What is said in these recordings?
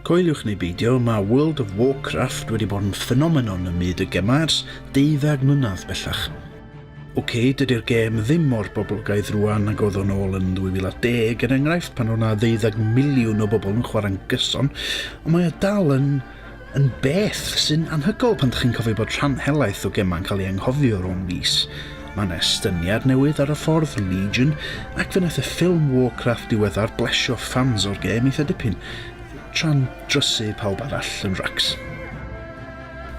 Coeliwch neu beidio, mae World of Warcraft wedi bod yn ffenomenon ym myd y gemau'r ers deuddeg mlynedd bellach. Ok, dydy'r gêm ddim mor boblogaidd rwan nag oedd o'n ôl yn 2010, er enghraifft, pan oedd yna ddeuddag miliwn o bobl yn chwarae'n gyson, ond mae o dal yn, yn beth sy'n anhygol pan ydych chi'n cofio bod rhan helaeth o gemau'n cael ei anghofio rhwng mis. Mae yna estyniad newydd ar y ffordd, Legion, ac fe wnaeth y ffilm Warcraft diweddar blesio ffans o'r gêm eitha dipyn, tra'n drysu pawb arall yn racs.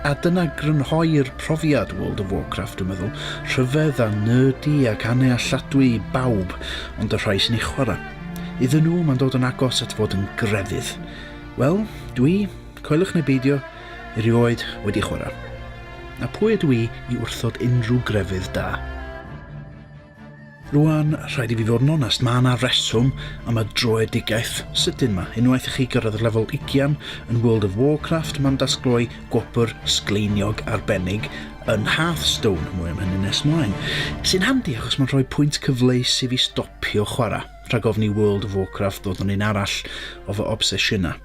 A dyna grynhoi'r profiad World of Warcraft dwi'n meddwl. Rhyfedd a nerdy ac annealladwy i bawb, ond y rhai sy'n ei chwarae. Iddyn nhw, mae'n dod yn agos at fod yn grefydd. Wel, dwi, coelwch neu beidio, erioed wedi chwarae. A pwy ydw i i wrthod unrhyw grefydd da? Rwan, rhaid i fi fod yn onest, mae yna reswm am y droedigaeth sydyn ma. Unwaith i chi gyrraedd lefel ugian yn World of Warcraft, mae'n dasgloi gwobr sgleiniog arbennig yn Hearthstone, mwy am hynny nes mlaen, sy'n handi achos mae'n rhoi pwynt cyfleus i fi stopio chwarae, rhag ofn i World of Warcraft ddod yn un arall o fy obsesiynau.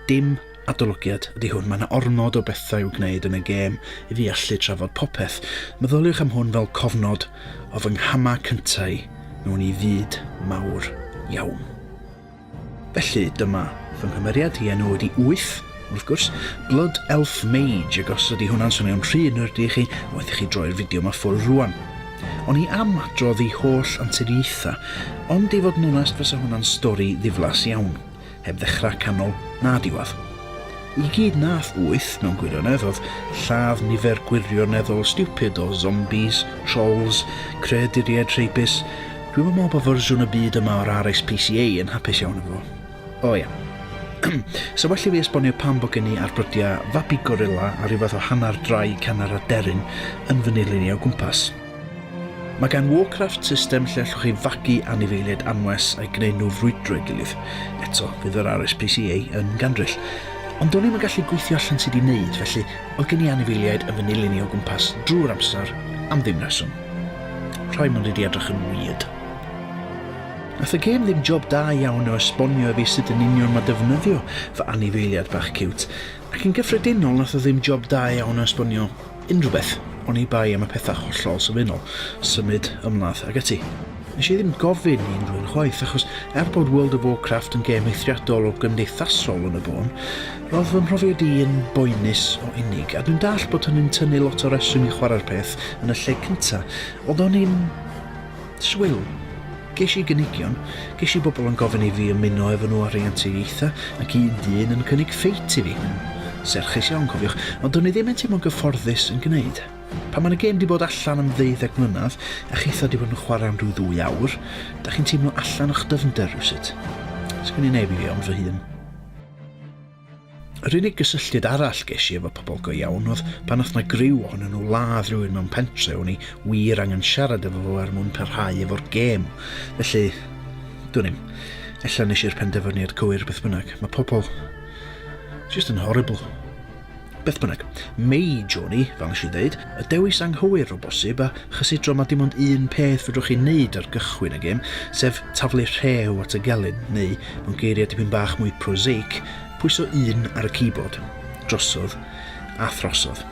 Dim adolygiad ydy hwn, mae 'na ormod o bethau i'w gwneud yn y gêm i fi allu trafod popeth. Meddyliwch am hwn fel cofnod o fy nghamau cyntaf i mewn i fyd mawr iawn. Felly, dyma fy nghymeriad, i enw ydy Wyth, wrth gwrs, Blood Elf Mage, ac os ydy hwnna'n swnio'n rhy nerdy i chi, waeth i chi droi'r fideo yma ffwrdd rwan. O'n i am adrodd i holl anturiaethau, ond i fod yn onest fysa hwnna'n stori ddiflas iawn. Heb ddechrau, canol, na diwedd. I gyd nath wyth mewn gwirionedd oedd lladd nifer gwirioneddol stupid o zombies, trolls, creaduriaid rheibus. Dwi'm yn meddwl bod fersiwn y byd yma o'r RSPCA yn hapus iawn efo fo. O ia. Sa well i fi esbonio pam bod gen i arbrydiau fabi gorilla a rhyw fath o hanner drai canner aderyn yn fy nilyn i o gwmpas. Mae gan Warcraft system lle allwch chi fagu anifeiliaid anwes a'i greu nhw frwydro ei gilydd. Eto, fydd yr RSPCA yn gandryll. Ond do'n i'm yn gallu gweithio allan sut i wneud, felly oedd gen i anifeiliaid yn fy nilyn i o gwmpas drwy'r amser am ddim rheswm. Rhai mynd wedi edrych yn weird. Nath y gêm ddim job da iawn o esbonio i fi sut yn union mae defnyddio fy anifeiliad bach ciwt, Ac yn gyffredinol nath o ddim job da iawn o esbonio unrhyw beth, oni bai am y pethau hollol sylfaenol, symud, ymladd, ac ati. Nes i ddim gofyn i unrhyw un chwaith, achos er bod World of Warcraft yn gêm eithriadol o gymdeithasol yn y bôn, ro'dd fy mhrofiad i yn boenus o unig, a dwi'n dallt bod hynny'n tynnu lot o reswm i chwarae'r peth yn y lle cynta, ond o'n i'n Swil. Ges i gynigion, ges i bobl yn gofyn i fi ymuno efo nhw ar ei anturiaethau, ac un dyn yn cynnig ffeit i fi. Serchus iawn, cofiwch, ond do'n i ddim yn teimlo'n gyfforddus yn gwneud. Pan mae'n y gêm di bod allan am ddeuddeg mlynedd, a chitho di bod yn chwarae am rhyw ddwy awr, da chi'n teimlo allan o'ch dyfnder rywsut. Sgen i neb i fi ond fy hun. Yr unig gysylltiad arall ges i efo pobl go iawn oedd pan oedd 'na griw ohonyn nhw ladd rhywun mewn pentre, o'n i wir angen siarad efo fo er mwyn parhau efo'r gêm. Felly, dwn i'm. Ella nes i'r penderfyniad cywir beth bynnag. Mae pobl just yn horrible. Beth bynnag, Mei Johnny, fel nes i ddeud, y dewis anghywir o bosib, a chysidro mae dim ond un peth fedrwch chi wneud ar gychwyn y gêm, sef taflu rhew at y gelyn, neu, mewn geiriau dipyn bach mwy prosaic, pwyso un ar y keyboard. Drosodd, a throsodd.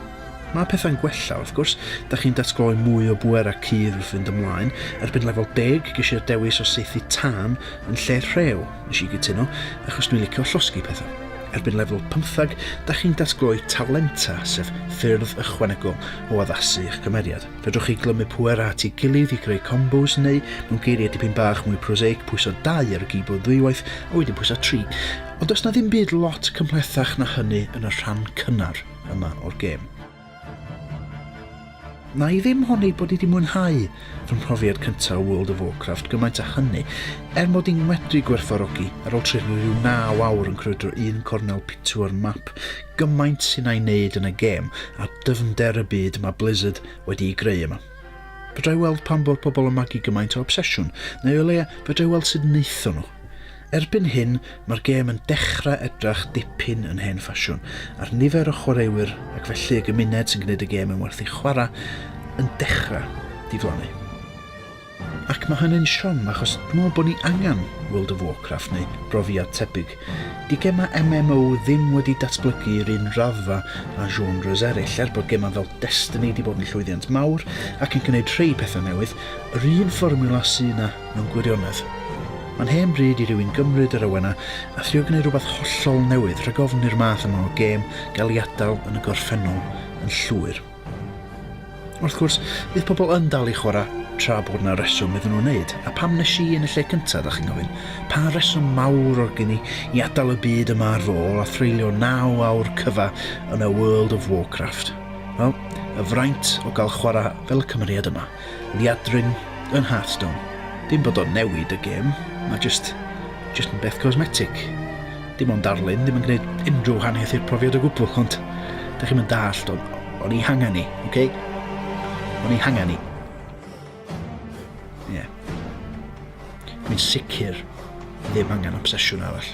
Mae pethau'n gwella, wrth gwrs, da chi'n datgloi mwy o bwer a cudd wrth fynd ymlaen. Erbyn lefel deg, ges i'r dewis o saethu tân yn lle rhew. Nes i gytuno, achos dwi'n licio llosgi pethau. Erbyn lefel pymtheg, da chi'n datgloi talenta, sef ffyrdd ychwanegol o addasu eich cymeriad. Fedrwch chi glymu pwerau at ei gilydd i greu combos neu, mewn geiriau dipyn bach mwy prosaic, pwyso 2 ar y gîbord ddwywaith a wedyn pwyso 3. Ond does 'na ddim byd lot cymhlethach na hynny yn y rhan cynnar yma o'r gêm. Wna i ddim honni bod i di mwynhau fy mhrofiad cyntaf o World of Warcraft gymaint â hynny, er mod i'n medru gwerthfawrogi ar ôl trefnu rhyw 9 awr yn crwydro un cornel pitw o'r map gymaint sy'n a'i wneud yn y gêm a dyfnder y byd mae Blizzard wedi'i greu yma. Fedra i weld pam bod pobl yn magu gymaint o obsesiwn, neu o leia fedra i weld sut wnaethon nhw. Erbyn hyn, mae'r gêm yn dechrau edrach dipyn yn hen ffasiwn, a'r nifer o chwaraewyr ac felly y gymuned sy'n gwneud y gêm yn werth ei chwarae yn dechrau diflannu. Ac mae hynny'n siom achos dwi'n meddwl bod ni angen World of Warcraft neu brofiad tebyg. Di gemau MMO ddim wedi datblygu i'r un raddfa â genres eraill, er bod gemau fel Destiny di bod yn llwyddiant mawr ac yn gwneud rhei pethau newydd, yr un fformiwla sydd yna Mewn gwirionedd, mae'n hen bryd i rywun gymryd yr awenau a thrio gwneud rhywbeth hollol newydd rhag ofn i'r math yma o gêm gael ei adael yn y gorffennol yn llwyr. Wrth gwrs, bydd pobl yn dal i chwarae tra bod 'na reswm iddyn nhw wneud, a pam nes i yn y lle cyntaf, dach chi'n gofyn? Pa reswm mawr oedd gen i i adael y byd yma ar fy ôl a threulio naw awr cyfa yn y World of Warcraft? Wel, y fraint o gael chwarae fel y cymeriad yma. liadrin yn Hearthstone. Dim bod o'n newid y gêm, mae jyst jyst yn beth cosmetic. Dim ond darlun, ddim yn gwneud unrhyw wahaniaeth i'r profiad o gwbl, ond da chi'n mynd dallt, o'n, on i hangen ni, oce? Okay? O'n i hangen ni. Ie. Yeah. Mi'n sicr ddim angen obsesiwn arall.